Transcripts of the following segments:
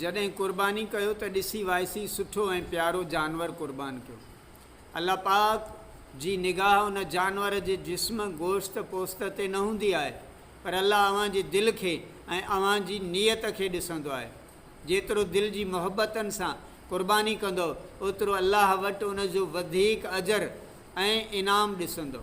جڏهن قرباني ڪيو ته ڏسي وائسي سٺو ۽ پيارو جانور قربان ڪيو الله پاڪ جي نگاهه ان جانور جي جسم گوشت پوست تي نه هوندي آهي پر الله اوهان جي دل کي ۽ اوهان جي نيت کي ڏسندو آهي جيترو دل جي محبتن سان قرباني ڪندو اوترو الله وٽ ان جو وڌيڪ اجر ۽ انعام ڏسندو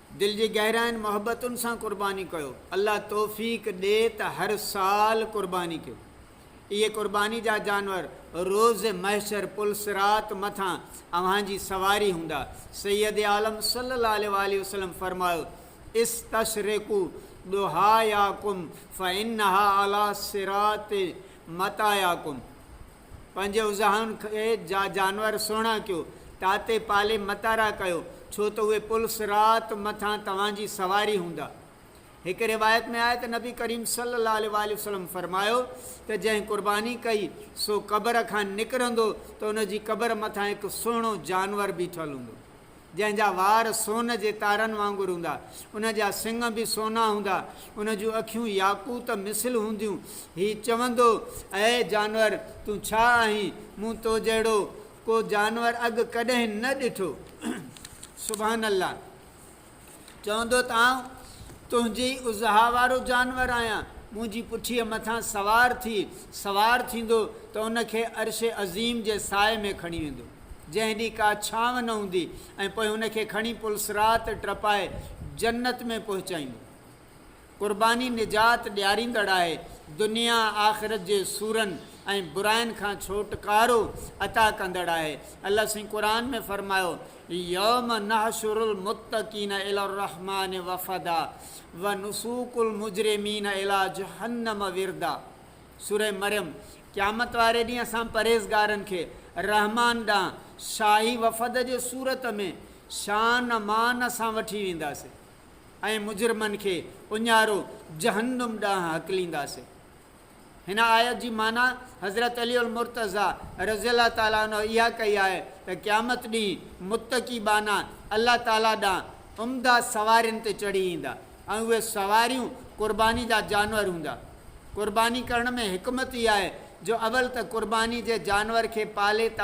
دل جي گهراين محبتن سان قرباني ڪيو الله توفيق ڏي ته هر سال قرباني ڪيو اهي قرباني جا جانور روز محشر پل صراط مٿان اوهان جي سواري هوندا سيد عالم صلي الله عليه واٰله وسلم فرمايو استشرقو ضحاياڪم فانها علي صراط مطاياڪم پنهنجي اوزاهن کي جا جانور سهڻا ڪيو، تاتي پالي متارا ڪيو، ڇو ته اهي پلس رات مٿان توهان جي سواري هوندا. هڪ روايت ۾ آهي ته نبي ڪريم صلي الله عليه واٰله وسلم فرمايو ته جنهن قرباني ڪئي سو قبر کان نڪرندو ته ان جي قبر مٿان هڪ سهڻو جانور بيٺل هوندو. جنهن جا وار سون جي تارن وانگر هوندا، ان جا سڱ به سونا هوندا، ان جون اکيون ياقوت مثل هونديون. هي چوندو، اي جانور! تون ڇا آهين؟ مون تو جهڙو ڪو جانور اڳ ڪڏهن نه ڏٺو. سبحان الله! چوندو ته آئون تنهنجي ئي اضحيٰ وارو جانور آهيان، منهنجي پٺيء مٿان سوار ٿي، سوار ٿيندو ته ان کي عرش عظيم جي سائي ۾ کڻي ويندو، جنهن ڏينهن ڪا ڇانو نه هوندي ۽ پوء ان کي کڻي پل صراط ٽپائي جنت ۾ پهچائيندو. قرباني نجات ڏياريندڙ آهي، دنيا آخرت جي سورن ۽ براين کان ڇوٽڪارو عطا ڪندڙ آهي. الله سائين قرآن ۾ فرمايو، يوم نحشر المتقين الي الرحمان وفدا ونسوق المجرمين الي جهنم وردا، سورة مريم، قيامت واري ڏينهن اسان پرهيزگارن کي رحمان ڏانهن شاهي وفد جي صورت ۾ شان مان سان وٺي وينداسين. ۽ مجرمن کي اڃارو جهنم ڏانهن هڪلينداسين. هن آيت جي معنيٰ حضرت علي المرتضيٰ رضي الله تعالٰي عنه اها ڪئي آهي ته قيامت ڏينهن متقي ٻانها الله تعالٰي ڏانهن عمده سوارين تي چڙهي ايندا ۽ اهي سواريون قرباني جا جانور هوندا. قرباني ڪرڻ ۾ حڪمت اها آهي جو اول ته قرباني جي جانور کي پالي ته.